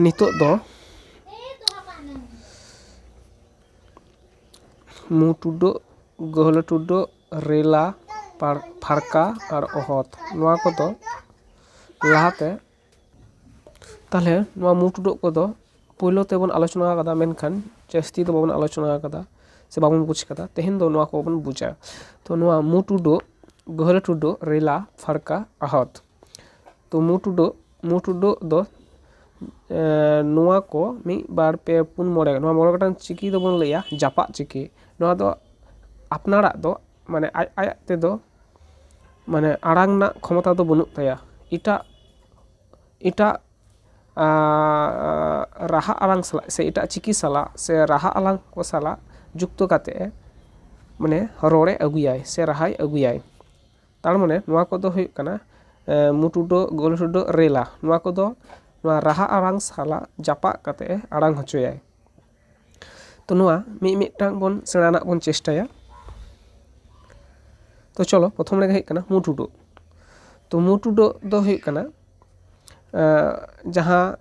ᱱᱤᱛᱚᱜ ᱫᱚ ᱢᱩ ᱴᱩᱰᱟᱹᱜ ᱜᱟᱹᱦᱞᱟᱹ ᱴᱩᱰᱟᱹᱜ ᱨᱮᱞᱟ ᱯᱟᱲ ᱯᱷᱟᱲᱠᱟ ᱟᱨ ᱚᱦᱚᱫ ᱱᱚᱣᱟ ᱠᱚᱫᱚ ᱞᱟᱦᱟᱛᱮ ᱛᱟᱦᱚᱞᱮ ᱱᱚᱣᱟ ᱢᱩ ᱴᱩᱰᱟᱹᱜ ᱠᱚᱫᱚ ᱯᱳᱭᱞᱳ ᱛᱮᱵᱚᱱ ᱟᱞᱳᱪᱚᱱᱟ ᱟᱠᱟᱫᱟ ᱢᱮᱱᱠᱷᱟᱱ ᱡᱟᱹᱥᱛᱤ ᱫᱚ ᱵᱟᱵᱚᱱ ᱟᱞᱳᱪᱚᱱᱟ ᱟᱠᱟᱫᱟ ᱥᱮ ᱵᱟᱵᱚᱱ ᱵᱩᱡᱽ ᱟᱠᱟᱫᱟ ᱛᱮᱦᱮᱧ ᱫᱚ ᱱᱚᱣᱟ ᱠᱚᱵᱚᱱ ᱵᱩᱡᱟ ᱛᱚ ᱱᱚᱣᱟ ᱢᱩ ᱴᱩᱰᱟᱹᱜ ᱜᱟᱹᱦᱞᱟᱹ ᱴᱩᱰᱟᱹᱜ ᱨᱮᱞᱟ ᱯᱷᱟᱲᱠᱟ ᱚᱦᱚᱫ ᱛᱚ ᱢᱩ ᱴᱩᱰᱟᱹᱜ ᱢᱩ ᱴᱩᱰᱟᱹᱜ ᱫᱚ ᱱᱚᱣᱟ ᱠᱚ ᱢᱤᱫ ᱵᱟᱨ ᱯᱮ ᱯᱩᱱ ᱢᱚᱬᱮ ᱱᱚᱣᱟ ᱢᱚᱬᱮ ᱜᱚᱴᱟᱝ ᱪᱤᱠᱤ ᱫᱚᱵᱚᱱ ᱞᱟᱹᱭᱟ ᱡᱟᱯᱟᱜ ᱪᱤᱠᱤ ᱱᱚᱣᱟ ᱫᱚ ᱟᱯᱱᱟᱨᱟᱜ ᱫᱚ ᱢᱟᱱᱮ ᱟᱡ ᱟᱡ ᱛᱮᱫᱚ ᱢᱟᱱᱮ ᱟᱲᱟᱝ ᱨᱮᱱᱟᱜ ᱠᱷᱚᱢᱚᱛᱟ ᱫᱚ ᱵᱟᱹᱱᱩᱜ ᱛᱟᱭᱟ ᱮᱴᱟᱜ ᱮᱴᱟᱜ ᱨᱟᱦᱟ ᱟᱲᱟᱝ ᱥᱟᱞᱟᱜ ᱥᱮ ᱮᱴᱟᱜ ᱪᱤᱠᱤ ᱥᱟᱞᱟᱜ ᱥᱮ ᱨᱟᱦᱟ ᱟᱲᱟᱝ ᱠᱚ ᱥᱟᱞᱟᱜ ᱡᱩᱠᱛᱚ ᱠᱟᱛᱮᱫ ᱮ ᱢᱟᱱᱮ ᱨᱚᱲᱮ ᱟᱹᱜᱩᱭᱟᱭ ᱥᱮ ᱨᱟᱦᱟᱭ ᱟᱹᱜᱩᱭᱟᱭ ᱛᱟᱨᱢᱟᱱᱮ ᱱᱚᱣᱟ ᱠᱚᱫᱚ ᱦᱩᱭᱩᱜ ᱠᱟᱱᱟ ᱢᱩ ᱴᱩᱰᱟᱹᱜ ᱜᱳᱞ ᱴᱩᱰᱟᱹᱜ ᱨᱮᱞᱟ ᱱᱚᱣᱟ ᱠᱚᱫᱚ ᱱᱚᱣᱟ ᱨᱟᱦᱟ ᱟᱲᱟᱝ ᱥᱟᱞᱟᱜ ᱡᱟᱯᱟᱜ ᱠᱟᱛᱮᱫ ᱮ ᱟᱲᱟᱝ ᱦᱚᱪᱚᱭᱟᱭ ᱛᱚ ᱱᱚᱣᱟ ᱢᱤᱫ ᱢᱤᱫᱴᱟᱝ ᱵᱚᱱ ᱥᱮᱬᱟ ᱨᱮᱱᱟᱜ ᱵᱚᱱ ᱪᱮᱥᱴᱟᱭᱟ ᱛᱚ ᱪᱚᱞᱚ ᱯᱨᱚᱛᱷᱚᱢ ᱨᱮᱜᱮ ᱦᱩᱭᱩᱜ ᱠᱟᱱᱟ ᱢᱩ ᱴᱩᱰᱟᱹᱜ ᱛᱚ ᱢᱩ ᱴᱩᱰᱟᱹᱜ ᱫᱚ ᱦᱩᱭᱩᱜ ᱠᱟᱱᱟ ᱡᱟᱦᱟᱸ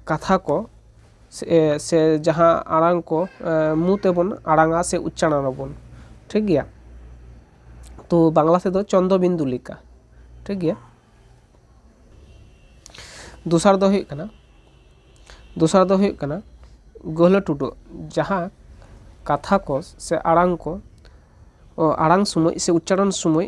ᱠᱟᱛᱷᱟ ᱠᱚ ᱥᱮ ᱡᱟᱦᱟᱸ ᱟᱲᱟᱝ ᱠᱚ ᱢᱩ ᱛᱮᱵᱚᱱ ᱟᱲᱟᱝᱟ ᱥᱮ ᱩᱪᱪᱟᱨᱚᱱ ᱟᱵᱚᱱ ᱴᱷᱤᱠ ᱜᱮᱭᱟ ᱛᱚ ᱵᱟᱝᱞᱟ ᱛᱮᱫᱚ ᱪᱚᱱᱫᱨᱚ ᱵᱤᱱᱫᱩ ᱞᱮᱠᱟ ᱴᱷᱤᱠ ᱜᱮᱭᱟ ᱫᱚᱥᱟᱨ ᱫᱚ ᱦᱩᱭᱩᱜ ᱠᱟᱱᱟ ᱫᱚᱥᱟᱨ ᱫᱚ ᱦᱩᱭᱩᱜ ᱠᱟᱱᱟ ᱜᱟᱹᱦᱞᱟᱹ ᱴᱩᱰᱟᱹᱜ ᱡᱟᱦᱟᱸ ᱠᱟᱛᱷᱟ ᱠᱚ ᱥᱮ ᱟᱲᱟᱝ ᱠᱚ ᱟᱲᱟᱝ ᱥᱚᱢᱚᱭ ᱥᱮ ᱩᱪᱪᱟᱨᱚᱱ ᱥᱚᱢᱚᱭ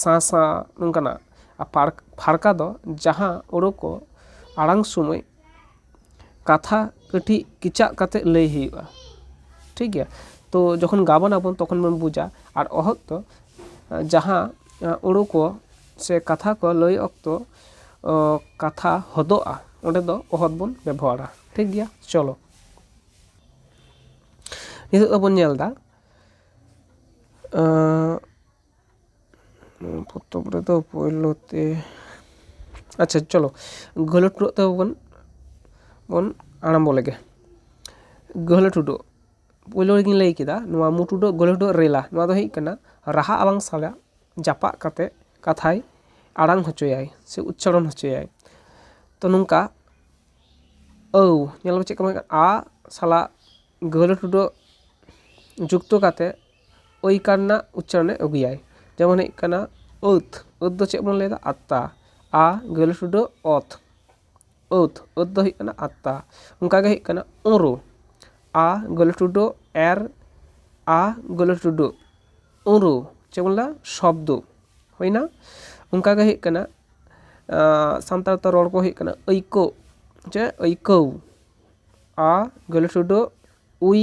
ᱥᱟᱸ ᱥᱟᱸ ᱱᱚᱝᱠᱟᱱᱟᱜ ᱟᱨ ᱯᱷᱟᱲ ᱯᱷᱟᱲᱠᱟ ᱫᱚ ᱡᱟᱦᱟᱸ ᱳᱲᱳ ᱠᱚ ᱟᱲᱟᱝ ᱥᱚᱢᱚᱭ ᱠᱟᱛᱷᱟ ᱠᱟᱹᱴᱤᱡ ᱠᱮᱪᱟᱜ ᱠᱟᱛᱮ ᱞᱟᱹᱭ ᱦᱩᱭᱩᱜᱼᱟ ᱴᱷᱤᱠ ᱜᱮᱭᱟ ᱛᱚ ᱡᱚᱠᱷᱚᱱ ᱜᱟᱵᱟᱱ ᱟᱵᱚᱱ ᱛᱚᱠᱷᱚᱱ ᱵᱚᱱ ᱵᱩᱡᱟ ᱟᱨ ᱚᱦᱚᱫ ᱫᱚ ᱡᱟᱦᱟᱸ ᱳᱲᱳ ᱠᱚ ᱥᱮ ᱠᱟᱛᱷᱟ ᱠᱚ ᱞᱟᱹᱭ ᱚᱠᱛᱚ ᱠᱟᱛᱷᱟ ᱦᱚᱫᱚᱜᱼᱟ ᱚᱸᱰᱮ ᱫᱚ ᱚᱦᱚᱫ ᱵᱚᱱ ᱵᱮᱵᱚᱦᱟᱨᱟ ᱴᱷᱤᱠ ᱜᱮᱭᱟ ᱪᱚᱞᱚ ᱱᱤᱛᱚᱜ ᱫᱚᱵᱚᱱ ᱧᱮᱞᱫᱟ ᱱᱚᱣᱟ ᱯᱚᱛᱚᱵ ᱨᱮᱫᱚ ᱯᱳᱭᱞᱳ ᱛᱮ ᱟᱪᱪᱷᱟ ᱪᱚᱞᱚ ᱜᱟᱹᱦᱞᱟᱹ ᱴᱩᱰᱩᱟᱜ ᱛᱮᱵᱚᱱ ᱵᱚᱱ ᱟᱨᱟᱢᱵᱚ ᱞᱮᱜᱮ ᱜᱟᱹᱦᱞᱟᱹ ᱴᱩᱰᱩ ᱯᱳᱭᱞᱳ ᱨᱮᱜᱤᱧ ᱞᱟᱹᱭ ᱠᱮᱫᱟ ᱱᱚᱣᱟ ᱢᱩ ᱴᱩᱰᱩ ᱟᱜ ᱜᱟᱹᱦᱞᱟᱹ ᱴᱩᱰᱩᱟᱜ ᱨᱮᱞᱟ ᱱᱚᱣᱟ ᱫᱚ ᱦᱩᱭᱩᱜ ᱠᱟᱱᱟ ᱨᱟᱦᱟ ᱟᱨᱵᱟᱝ ᱥᱟᱭᱟ ᱡᱟᱯᱟᱜ ᱠᱟᱛᱮ ᱠᱟᱛᱷᱟᱭ ᱟᱲᱟᱝ ᱦᱚᱪᱚᱭᱟᱭ ᱥᱮ ᱩᱪᱪᱟᱨᱚᱱ ᱦᱚᱪᱚᱭᱟᱭ ᱛᱚ ᱱᱚᱝᱠᱟ ᱟᱹᱣ ᱧᱮᱞ ᱢᱮ ᱪᱮᱫ ᱠᱚ ᱢᱮᱱ ᱠᱟᱫᱟ ᱟ ᱥᱟᱞᱟᱜ ᱜᱟᱹᱦᱞᱟᱹ ᱴᱩᱰᱩ ᱟᱜ ᱡᱩᱠᱛᱚ ᱠᱟᱛᱮ ᱳᱭᱠᱟᱨ ᱨᱮᱱᱟᱜ ᱩᱪᱪᱟᱨᱚᱱᱮ ᱟᱹᱜᱩᱭᱟᱭ ᱡᱮᱢᱚᱱ ᱦᱩᱭᱩᱜ ᱠᱟᱱᱟ ᱟᱹᱛ ᱟᱹᱛ ᱫᱚ ᱪᱮᱫ ᱵᱚᱱ ᱞᱟᱹᱭ ᱮᱫᱟ ᱟᱛᱛᱟ ᱟ ᱜᱟᱹᱦᱞᱟᱹ ᱴᱩᱰᱟᱹᱜ ᱚᱛ ᱟᱹᱛ ᱟᱹᱛ ᱫᱚ ᱦᱩᱭᱩᱜ ᱠᱟᱱᱟ ᱟᱛᱛᱟ ᱚᱱᱠᱟ ᱜᱮ ᱦᱩᱭᱩᱜ ᱠᱟᱱᱟ ᱳᱨᱳ ᱟ ᱜᱟᱹᱦᱞᱟᱹ ᱴᱩᱰᱟᱹᱜ ᱮᱨ ᱟ ᱜᱟᱹᱦᱞᱟᱹ ᱴᱩᱰᱟᱹᱜ ᱳᱨᱳ ᱪᱮᱫ ᱵᱚᱱ ᱞᱟᱹᱭ ᱮᱫᱟ ᱥᱚᱵᱽᱫᱚ ᱦᱩᱭᱮᱱᱟ ᱚᱱᱠᱟ ᱜᱮ ᱦᱩᱭᱩᱜ ᱠᱟᱱᱟ ᱥᱟᱱᱛᱟᱲ ᱛᱮ ᱨᱚᱲ ᱠᱚ ᱦᱩᱭᱩᱜ ᱠᱟᱱᱟ ᱟᱹᱭᱠᱟᱹᱜ ᱪᱮᱫ ᱟᱹᱭᱠᱟᱹᱣ ᱟ ᱜᱟᱹᱦᱞᱟᱹ ᱴᱩᱰᱟᱹᱜ ᱩᱭ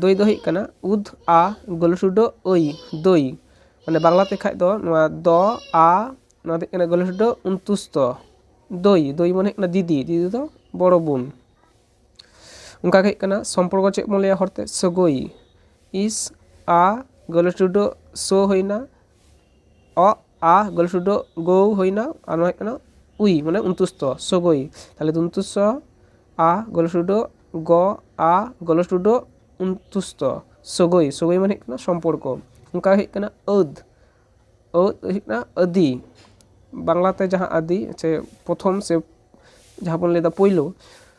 ᱫᱳᱭ ᱫᱚ ᱦᱩᱭᱩᱜ ᱠᱟᱱᱟ ᱩᱫᱽ ᱟ ᱜᱳᱞᱳᱥᱩᱰᱳ ᱳᱭ ᱫᱳᱭ ᱢᱟᱱᱮ ᱵᱟᱝᱞᱟ ᱛᱮᱠᱷᱟᱱ ᱫᱚ ᱱᱚᱣᱟ ᱫᱚ ᱟ ᱱᱚᱣᱟ ᱫᱚ ᱦᱩᱭᱩᱜ ᱠᱟᱱᱟ ᱜᱳᱞᱳᱥᱩᱰᱳ ᱩᱱᱛᱩᱥᱛᱚ ᱫᱳᱭ ᱫᱳᱭ ᱢᱟᱱᱮ ᱦᱩᱭᱩᱜ ᱠᱟᱱᱟ ᱫᱤᱫᱤ ᱫᱤᱫᱤ ᱫᱚ ᱵᱚᱲᱚ ᱵᱳᱱ ᱚᱱᱠᱟ ᱜᱮ ᱦᱩᱭᱩᱜ ᱠᱟᱱᱟ ᱥᱚᱢᱯᱚᱨᱠᱚ ᱪᱮᱫ ᱵᱚᱱ ᱞᱟᱹᱭᱟ ᱦᱚᱲᱛᱮ ᱥᱟᱹᱜᱟᱹᱭ ᱤᱥ ᱟ ᱜᱳᱞᱳᱥᱩᱰᱳ ᱥᱳ ᱦᱩᱭᱮᱱᱟ ᱚ ᱟ ᱜᱚᱞᱤ ᱥᱩᱫᱽᱫᱷ ᱜᱳ ᱦᱩᱭᱮᱱᱟ ᱟᱨ ᱱᱚᱣᱟ ᱦᱩᱭᱩᱜ ᱠᱟᱱᱟ ᱩᱭ ᱢᱟᱱᱮ ᱩᱱᱛᱩᱥ ᱛᱚ ᱥᱚᱜᱳᱭ ᱛᱟᱦᱚᱞᱮ ᱩᱱᱛᱩᱥ ᱥᱚ ᱟ ᱜᱚᱞᱤ ᱥᱩᱫᱽᱫᱷ ᱜᱚ ᱟ ᱜᱚᱞᱤ ᱥᱩᱫᱽᱫᱷ ᱩᱱᱛᱩᱥ ᱛᱚ ᱥᱚᱜᱳᱭ ᱥᱚᱜᱳᱭ ᱢᱟᱱᱮ ᱦᱩᱭᱩᱜ ᱠᱟᱱᱟ ᱥᱚᱢᱯᱚᱨᱠᱚ ᱚᱱᱠᱟ ᱦᱩᱭᱩᱜ ᱠᱟᱱᱟ ᱟᱹᱫᱽ ᱟᱹᱫᱽ ᱦᱩᱭᱩᱜ ᱠᱟᱱᱟ ᱟᱹᱫᱤ ᱵᱟᱝᱞᱟᱛᱮ ᱡᱟᱦᱟᱸ ᱟᱹᱫᱤ ᱥᱮ ᱯᱨᱚᱛᱷᱚᱢ ᱥᱮ ᱡᱟᱦᱟᱸ ᱵᱚᱱ ᱞᱟᱹᱭᱫᱟ ᱯᱳᱭᱞᱳ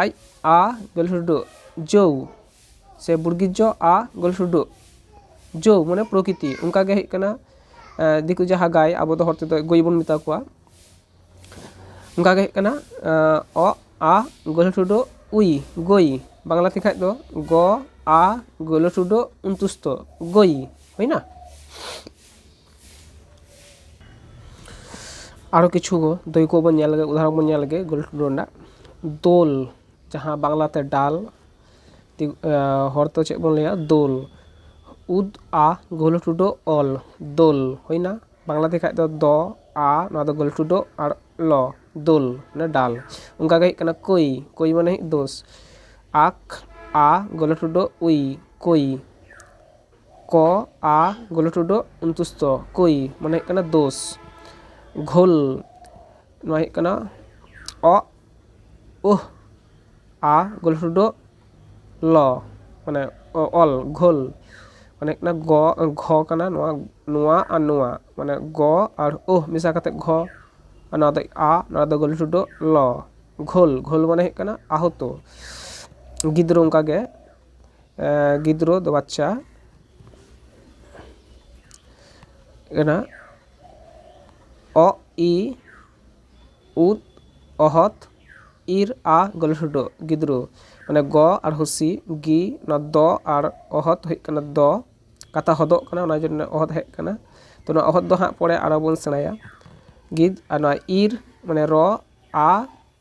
ᱟᱡ ᱟ ᱜᱟᱹᱞᱦᱩᱰᱩᱜ ᱡᱳᱣ ᱥᱮ ᱵᱩᱲᱜᱤᱡᱡᱚ ᱟ ᱜᱟᱹᱞᱦᱩᱰᱩᱜ ᱡᱳᱣ ᱢᱟᱱᱮ ᱯᱨᱚᱠᱤᱛᱤ ᱚᱱᱠᱟ ᱜᱮ ᱦᱩᱭᱩᱜ ᱠᱟᱱᱟ ᱫᱤᱠᱩ ᱡᱟᱦᱟᱸ ᱜᱟᱭ ᱟᱵᱚ ᱫᱚ ᱦᱚᱲ ᱛᱮᱫᱚ ᱜᱟᱹᱭ ᱵᱚᱱ ᱢᱮᱛᱟ ᱠᱚᱣᱟ ᱚᱱᱠᱟ ᱜᱮ ᱦᱩᱭᱩᱜ ᱠᱟᱱᱟ ᱚ ᱟ ᱜᱟᱹᱞᱦᱩᱰᱩᱜ ᱩᱭ ᱜᱟᱹᱭ ᱵᱟᱝᱞᱟ ᱛᱮᱠᱷᱟᱱ ᱫᱚ ᱜᱚ ᱟ ᱜᱟᱹᱞᱦᱩᱰᱩᱜ ᱩᱱᱛᱩᱥᱛᱚ ᱜᱟᱹᱭ ᱦᱩᱭᱱᱟ ᱟᱨᱚ ᱠᱤᱪᱷᱩ ᱫᱟᱹᱭᱠᱟᱹ ᱠᱚᱵᱚᱱ ᱧᱮᱞ ᱞᱮᱜᱮ ᱩᱫᱟᱦᱚᱨᱚᱱ ᱠᱚᱵᱚᱱ ᱧᱮᱞ ᱞᱮᱜᱮ ᱜᱳᱞ ᱴᱩᱰᱩ ᱨᱮᱱᱟᱜ ᱫᱳᱞ ᱡᱟᱦᱟᱸ ᱵᱟᱝᱞᱟ ᱛᱮ ᱰᱟᱞ ᱦᱚᱲ ᱛᱮ ᱪᱮᱫ ᱵᱚᱱ ᱞᱟᱹᱭᱟ ᱫᱳᱞ ᱩᱫ ᱟ ᱜᱳᱞ ᱴᱩᱰᱩ ᱚᱞ ᱫᱳᱞ ᱦᱩᱭᱮᱱᱟ ᱵᱟᱝᱞᱟ ᱛᱮᱠᱷᱟᱱ ᱫᱚ ᱫᱚ ᱟ ᱱᱚᱣᱟ ᱫᱚ ᱜᱳᱞ ᱴᱩᱰᱩ ᱟᱨ ᱞᱚ ᱫᱳᱞ ᱢᱟᱱᱮ ᱰᱟᱞ ᱚᱱᱠᱟ ᱜᱮ ᱦᱩᱭᱩᱜ ᱠᱟᱱᱟ ᱠᱳᱭ ᱠᱳᱭ ᱢᱟᱱᱮ ᱫᱳᱥ ᱟᱠ ᱟ ᱜᱳᱞ ᱴᱩᱰᱩ ᱩᱭ ᱠᱳᱭ ᱠᱚ ᱟ ᱜᱩᱞᱩ ᱴᱩᱰᱩ ᱩᱱᱛᱩᱥᱛᱚ ᱠᱩᱭ ᱢᱟᱱᱮ ᱦᱩᱭᱩᱜ ᱠᱟᱱᱟ ᱫᱳᱥ ᱜᱷᱳᱞ ᱱᱚᱣᱟ ᱦᱩᱭᱩᱜ ᱠᱟᱱᱟ ᱚᱜ ᱩᱦ ᱟ ᱜᱩᱞᱩ ᱴᱩᱰᱩ ᱞᱚ ᱢᱟᱱᱮ ᱚᱞ ᱜᱷᱳᱞ ᱢᱟᱱᱮ ᱦᱩᱭᱩᱜ ᱠᱟᱱᱟ ᱜᱚ ᱜᱷᱚ ᱠᱟᱱᱟ ᱱᱚᱣᱟ ᱱᱚᱣᱟ ᱟᱨ ᱱᱚᱣᱟ ᱢᱟᱱᱮ ᱜᱚ ᱟᱨ ᱩᱦ ᱢᱮᱥᱟ ᱠᱟᱛᱮᱫ ᱜᱷᱚ ᱟᱨ ᱱᱚᱣᱟ ᱫᱚ ᱟ ᱱᱚᱣᱟ ᱫᱚ ᱜᱩᱞᱩ ᱴᱩᱰᱩ ᱞᱚ ᱜᱷᱳᱞ ᱜᱷᱳᱞ ᱢᱟᱱᱮ ᱦᱩᱭᱩᱜ ᱠᱟᱱᱟ ᱟᱦᱚᱛᱚ ᱜᱤᱫᱽᱨᱟᱹ ᱚᱱᱠᱟᱜᱮ ᱜᱤᱫᱽᱨᱟᱹ ᱫᱚ ᱵᱟᱪᱪᱟ ᱠᱟᱱᱟ ᱚᱜ ᱤ ᱩᱫ ᱚᱦᱚᱫ ᱤᱨ ᱟ ᱜᱚᱞᱦᱚᱰᱚ ᱜᱤᱫᱽᱨᱟᱹ ᱢᱟᱱᱮ ᱜᱚ ᱟᱨ ᱦᱩᱥᱤ ᱜᱤ ᱚᱱᱟ ᱫᱚ ᱟᱨ ᱚᱦᱚᱫ ᱦᱩᱭᱩᱜ ᱠᱟᱱᱟ ᱫᱚ ᱠᱟᱛᱷᱟ ᱦᱚᱫᱚᱜ ᱠᱟᱱᱟ ᱚᱱᱟ ᱡᱚᱱᱱᱚ ᱚᱦᱚᱫ ᱦᱮᱡ ᱠᱟᱱᱟ ᱛᱚ ᱱᱚᱣᱟ ᱚᱦᱚᱫ ᱫᱚ ᱦᱟᱸᱜ ᱯᱚᱨᱮ ᱟᱨᱚ ᱵᱚᱱ ᱥᱮᱬᱟᱭᱟ ᱜᱤᱫ ᱟᱨ ᱱᱚᱣᱟ ᱤᱨ ᱢᱟᱱᱮ ᱨᱚ ᱟ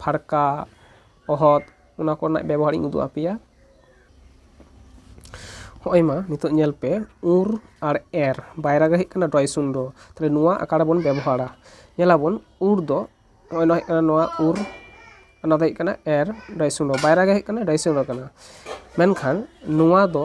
ᱯᱷᱟᱲᱠᱟ ᱚᱦᱚᱫ ᱚᱱᱟ ᱠᱚᱨᱮᱱᱟᱜ ᱵᱮᱵᱚᱦᱟᱨ ᱤᱧ ᱩᱫᱩᱜ ᱟᱯᱮᱭᱟ ᱦᱚᱸᱜᱼᱚᱭ ᱢᱟ ᱱᱤᱛᱳᱜ ᱧᱮᱞ ᱯᱮ ᱩᱨ ᱟᱨ ᱮᱨ ᱵᱟᱭᱨᱟ ᱜᱮ ᱦᱩᱭᱩᱜ ᱠᱟᱱᱟ ᱰᱚᱭ ᱥᱩᱱᱫᱚ ᱛᱟᱦᱚᱞᱮ ᱱᱚᱣᱟ ᱟᱠᱟ ᱨᱮᱵᱚᱱ ᱵᱮᱵᱚᱦᱟᱨᱟ ᱧᱮᱞᱟ ᱵᱚᱱ ᱩᱨ ᱫᱚ ᱱᱚᱜᱼᱚᱭ ᱱᱚᱣᱟ ᱦᱩᱭᱩᱜ ᱠᱟᱱᱟ ᱱᱚᱣᱟ ᱩᱨ ᱚᱱᱟ ᱫᱚ ᱦᱩᱭᱩᱜ ᱠᱟᱱᱟ ᱮᱨ ᱰᱚᱭ ᱥᱩᱱᱫᱚ ᱵᱟᱭᱨᱟ ᱜᱮ ᱦᱩᱭᱩᱜ ᱠᱟᱱᱟ ᱰᱚᱭ ᱥᱩᱱᱫᱚ ᱠᱟᱱᱟ ᱢᱮᱱᱠᱷᱟᱱ ᱱᱚᱣᱟ ᱫᱚ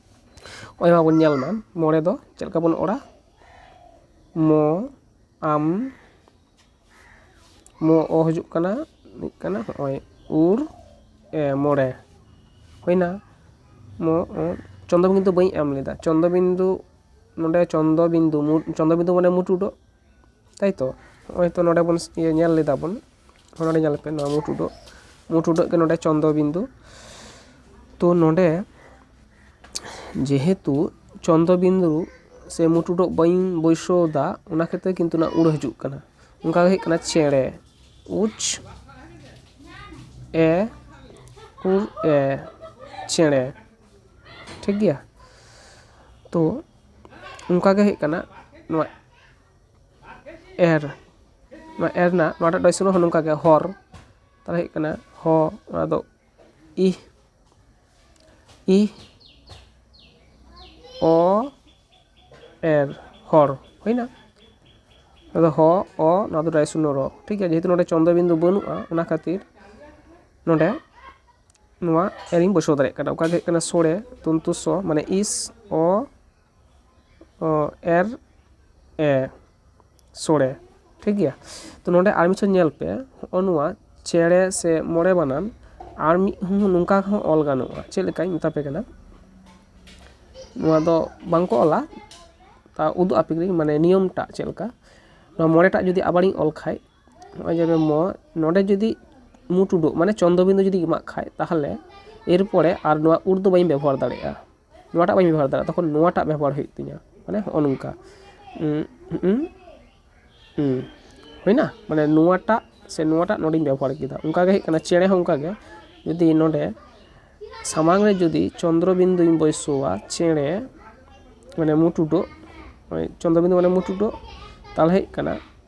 ᱱᱚᱜᱼᱚᱭ ᱢᱟᱵᱚᱱ ᱧᱮᱞ ᱢᱟ ᱢᱚᱬᱮ ᱫᱚ ᱪᱮᱫ ᱞᱮᱠᱟ ᱵᱚᱱ ᱚᱞᱟ ᱢᱚ ᱟᱢ ᱢᱚ ᱚ ᱦᱤᱡᱩᱜ ᱠᱟᱱᱟ ᱦᱩᱭᱩᱜ ᱠᱟᱱᱟ ᱱᱚᱜᱼᱚᱭ ᱩᱨ ᱮ ᱢᱚᱬᱮ ᱦᱩᱭᱱᱟ ᱢᱚ ᱚ ᱪᱚᱱᱫᱨᱚ ᱵᱤᱱᱫᱩ ᱵᱟᱹᱧ ᱮᱢ ᱞᱮᱫᱟ ᱪᱚᱱᱫᱨᱚ ᱵᱤᱱᱫᱩ ᱱᱚᱰᱮ ᱪᱚᱱᱫᱨᱚ ᱵᱤᱱᱫᱩ ᱪᱚᱱᱫᱨᱚ ᱵᱤᱱᱫᱩ ᱢᱟᱱᱮ ᱢᱩᱪᱩᱰᱚᱜ ᱛᱟᱭᱛᱚ ᱱᱚᱜᱼᱚᱭ ᱛᱚ ᱱᱚᱸᱰᱮ ᱵᱚᱱ ᱧᱮᱞ ᱞᱮᱫᱟ ᱵᱚᱱ ᱱᱚᱸᱰᱮ ᱧᱮᱞ ᱯᱮ ᱱᱚᱣᱟ ᱢᱩᱸ ᱴᱩᱰᱟᱹᱜ ᱢᱩᱸ ᱴᱩᱰᱟᱹᱜ ᱜᱮ ᱱᱚᱸᱰᱮ ᱪᱚᱱᱫᱨᱚ ᱵᱤᱱᱫᱩ ᱛᱚ ᱱᱚᱸᱰᱮ ᱡᱮᱦᱮᱛᱩ ᱪᱚᱱᱫᱨᱚ ᱵᱤᱱᱫᱩ ᱥᱮ ᱢᱩᱸ ᱴᱩᱰᱟᱹᱜ ᱵᱟᱹᱧ ᱵᱟᱹᱭᱥᱟᱹᱣᱫᱟ ᱚᱱᱟ ᱠᱷᱟᱹᱛᱤᱨ ᱠᱤᱱᱛᱩ ᱚᱱᱟ ᱩᱲ ᱦᱤᱡᱩᱜ ᱠᱟᱱᱟ ᱚᱱᱠᱟ ᱜᱮ ᱦᱩᱭᱩᱜ ᱠᱟᱱᱟ ᱪᱮᱬᱮ ᱩᱪ ᱮ ᱩᱲ ᱮ ᱪᱮᱬᱮ ᱴᱷᱤᱠ ᱜᱮᱭᱟ ᱛᱚ ᱚᱱᱠᱟᱜᱮ ᱦᱩᱭᱩᱜ ᱠᱟᱱᱟ ᱱᱚᱣᱟ ᱮᱨ ᱱᱚᱣᱟ ᱮᱨ ᱨᱮᱱᱟᱜ ᱱᱚᱣᱟᱴᱟᱜ ᱴᱚᱭᱥᱚᱱ ᱨᱮᱦᱚᱸ ᱱᱚᱝᱠᱟ ᱜᱮ ᱦᱚᱨ ᱛᱟᱦᱚᱞᱮ ᱦᱩᱭᱩᱜ ᱠᱟᱱᱟ ᱦᱚ ᱚᱱᱟᱫᱚ ᱤ ᱤ ᱚ ᱮᱨ ᱦᱚᱨ ᱦᱩᱭᱱᱟ ᱟᱫᱚ ᱦᱚ ᱚ ᱱᱚᱣᱟ ᱫᱚ ᱴᱚᱭᱥᱚᱱ ᱨᱚ ᱴᱷᱤᱠ ᱜᱮᱭᱟ ᱡᱮᱦᱮᱛᱩ ᱱᱚᱰᱮ ᱪᱚᱱᱫᱨᱚ ᱵᱤᱱᱫᱩ ᱵᱟᱹᱱᱩᱜᱼᱟ ᱚᱱᱟ ᱠᱷᱟᱹᱛᱤᱨ ᱱᱚᱰᱮ ᱱᱚᱣᱟ ᱮᱨᱤᱧ ᱵᱚᱥᱟᱣ ᱫᱟᱲᱮᱭᱟᱜ ᱠᱟᱱᱟ ᱚᱠᱟ ᱫᱚ ᱦᱩᱭᱩᱜ ᱠᱟᱱᱟ ᱥᱚᱲᱮ ᱛᱚᱱᱛᱩ ᱥᱚ ᱢᱟᱱᱮ ᱤᱥ ᱚ ᱮᱨ ᱮ ᱥᱚᱲᱮ ᱴᱷᱤᱠ ᱜᱮᱭᱟ ᱛᱚ ᱱᱚᱰᱮ ᱟᱨ ᱢᱤᱫᱴᱮᱱ ᱧᱮᱞ ᱯᱮ ᱦᱚᱜᱼᱚ ᱱᱚᱣᱟ ᱪᱮᱬᱮ ᱥᱮ ᱢᱚᱬᱮ ᱵᱟᱱᱟᱢ ᱟᱨ ᱢᱤᱫ ᱦᱚᱸ ᱱᱚᱝᱠᱟ ᱦᱚᱸ ᱚᱞ ᱜᱟᱱᱚᱜᱼᱟ ᱪᱮᱫ ᱞᱮᱠᱟᱧ ᱢᱮᱛᱟ ᱯᱮ ᱠᱟᱱᱟ ᱱᱚᱣᱟ ᱫᱚ ᱵᱟᱝ ᱠᱚ ᱚᱞᱟ ᱛᱟᱣ ᱩᱫᱩᱜ ᱟᱯᱮ ᱠᱟᱹᱱᱟᱹᱧ ᱢᱟᱱᱮ ᱱᱤᱭᱚᱢ ᱴᱟᱜ ᱪᱮᱫ ᱞᱮᱠᱟ ᱱᱚᱣᱟ ᱢᱚᱬᱮ ᱴᱟᱜ ᱡᱩᱫᱤ ᱟᱵᱟᱨᱤᱧ ᱚᱞ ᱠᱷᱟᱱ ᱱᱚᱜᱼᱚᱭ ᱡᱮ ᱢᱚ ᱱᱚᱸᱰᱮ ᱡᱩᱫᱤ ᱢᱩ ᱴᱩᱰᱟᱹᱜ ᱢᱟᱱᱮ ᱪᱚᱱᱫᱨᱚ ᱵᱤᱱᱫᱩ ᱡᱩᱫᱤ ᱮᱢᱟᱜ ᱠᱷᱟᱱ ᱛᱟᱦᱚᱞᱮ ᱮᱨ ᱯᱚᱨᱮ ᱟᱨ ᱱᱚᱣᱟ ᱩᱨ ᱫᱚ ᱵᱟᱹᱧ ᱵᱮᱵᱚᱦᱟᱨ ᱫᱟᱲᱮᱭᱟᱜᱼᱟ ᱱᱚᱣᱟᱴᱟᱜ ᱵᱟᱹᱧ ᱵᱮᱵᱚᱦᱟᱨ ᱫᱟᱲᱮᱭᱟᱜᱼᱟ ᱛᱚᱠᱷᱚᱱ ᱱᱚᱣᱟᱴᱟᱜ ᱵᱮᱵᱚᱦᱟᱨ ᱦᱩᱭᱩᱜ ᱛᱤᱧᱟᱹ ᱢᱟᱱᱮ ᱦᱚᱸᱜᱼᱚ ᱱᱚᱝᱠᱟ ᱦᱩᱭᱱᱟ ᱢᱟᱱᱮ ᱱᱚᱣᱟᱴᱟᱜ ᱥᱮ ᱱᱚᱣᱟᱴᱟᱜ ᱱᱚᱸᱰᱮᱧ ᱵᱮᱵᱚᱦᱟᱨ ᱠᱮᱫᱟ ᱚᱱᱠᱟ ᱜᱮ ᱦᱩᱭᱩᱜ ᱠᱟᱱᱟ ᱪᱮᱬᱮ ᱦᱚᱸ ᱚᱱᱠᱟ ᱜᱮ ᱡᱩᱫᱤ ᱱᱚᱸᱰᱮ ᱥᱟᱢᱟᱝ ᱨᱮ ᱡᱩᱫᱤ ᱪᱚᱱᱫᱨᱚ ᱵᱤᱱᱫᱩᱧ ᱵᱟᱹᱭᱥᱟᱹᱣᱟ ᱪᱮᱬᱮ ᱢᱟᱱᱮ ᱢᱩ ᱴᱩᱰᱟᱹᱜ ᱪᱚᱱᱫᱨᱚ ᱵᱤᱱᱫᱩ ᱢᱟᱱᱮ ᱢᱩ ᱴᱩᱰᱟᱹᱜ ᱛᱟᱦᱚᱞᱮ ᱦᱩᱭᱩᱜ ᱠᱟᱱᱟ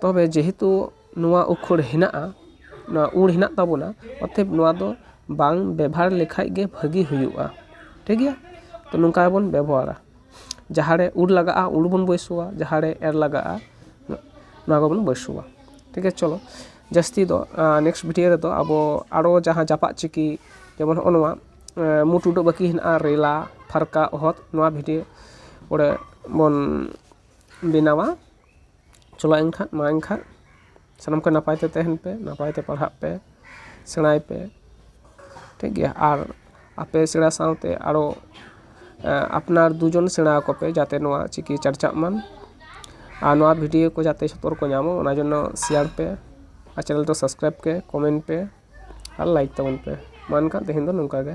ᱛᱚᱵᱮ ᱡᱮᱦᱮᱛᱩ ᱱᱚᱣᱟ ᱩᱠᱷᱟᱹᱲ ᱦᱮᱱᱟᱜᱼᱟ ᱱᱚᱣᱟ ᱩᱲ ᱦᱮᱱᱟᱜ ᱛᱟᱵᱚᱱᱟ ᱚᱛᱷᱚᱭᱮᱵᱽ ᱱᱚᱣᱟ ᱫᱚ ᱵᱟᱝ ᱵᱮᱵᱷᱟᱨ ᱞᱮᱠᱷᱟᱡ ᱜᱮ ᱵᱷᱟᱹᱜᱤ ᱦᱩᱭᱩᱜᱼᱟ ᱴᱷᱤᱠ ᱜᱮᱭᱟ ᱛᱚ ᱱᱚᱝᱠᱟ ᱜᱮᱵᱚᱱ ᱵᱮᱵᱚᱦᱟᱨᱟ ᱡᱟᱦᱟᱸ ᱨᱮ ᱩᱲ ᱞᱟᱜᱟᱜᱼᱟ ᱩᱲ ᱵᱚᱱ ᱵᱟᱹᱭᱥᱟᱹᱣᱟ ᱡᱟᱦᱟᱸ ᱨᱮ ᱮᱨ ᱞᱟᱜᱟᱜᱼᱟ ᱱᱚᱣᱟ ᱠᱚᱵᱚᱱ ᱵᱟᱹᱭᱥᱟᱹᱣᱟ ᱴᱷᱤᱠ ᱜᱮᱭᱟ ᱪᱚᱞᱚ ᱡᱟᱹᱥᱛᱤ ᱫᱚ ᱱᱮᱠᱥᱴ ᱵᱷᱤᱰᱭᱳ ᱨᱮᱫᱚ ᱟᱵᱚ ᱟᱨᱚ ᱡᱟᱦᱟᱸ ᱡᱟᱯᱟᱜ ᱪᱤᱠᱤ ᱡᱮᱢᱚᱱ ᱦᱚᱸᱜᱼᱚ ᱱᱚᱣᱟ ᱢᱩ ᱴᱩᱰᱟᱹᱜ ᱵᱟᱹᱠᱤ ᱦᱮᱱᱟᱜᱼᱟ ᱨᱮᱞᱟ ᱯᱷᱟᱨᱠᱟ ᱚᱦᱚᱫ ᱱᱚᱣᱟ ᱵᱷᱤᱰᱭᱳ ᱯᱚᱨᱮ ᱵᱚᱱ ᱵᱮᱱᱟᱣᱟ ᱪᱚᱞᱚ ᱮᱱᱠᱷᱟᱱ ᱢᱟ ᱮᱱᱠᱷᱟᱱ ᱥᱟᱱᱟᱢ ᱠᱚ ᱱᱟᱯᱟᱭ ᱛᱮ ᱛᱟᱦᱮᱱ ᱯᱮ ᱱᱟᱯᱟᱭ ᱛᱮ ᱯᱟᱲᱦᱟᱜ ᱯᱮ ᱥᱮᱬᱟᱭ ᱯᱮ ᱴᱷᱤᱠ ᱜᱮᱭᱟ ᱟᱨ ᱟᱯᱮ ᱥᱮᱬᱟ ᱥᱟᱶᱛᱮ ᱟᱨᱚ ᱟᱯᱱᱟᱨ ᱫᱩ ᱡᱚᱱ ᱥᱮᱬᱟ ᱟᱠᱚ ᱯᱮ ᱡᱟᱛᱮ ᱱᱚᱣᱟ ᱪᱤᱠᱤ ᱪᱟᱨᱪᱟᱜ ᱢᱟ ᱟᱨ ᱱᱚᱣᱟ ᱵᱷᱤᱰᱤᱭᱳ ᱠᱚ ᱡᱟᱛᱮ ᱡᱷᱚᱛᱚ ᱦᱚᱲ ᱠᱚ ᱧᱟᱢ ᱚᱱᱟ ᱡᱚᱱᱱᱚ ᱥᱮᱭᱟᱨ ᱯᱮ ᱟᱨ ᱪᱮᱱᱮᱞ ᱫᱚ ᱥᱟᱵᱥᱠᱨᱟᱭᱤᱵᱽ ᱯᱮ ᱠᱚᱢᱮᱱᱴ ᱯᱮ ᱟᱨ ᱞᱟᱭᱤᱠ ᱛᱟᱵᱚᱱ ᱯᱮ ᱢᱟ ᱮᱱᱠᱷᱟᱱ ᱛᱮᱦᱮᱧ ᱫᱚ ᱱᱚᱝᱠᱟ ᱜᱮ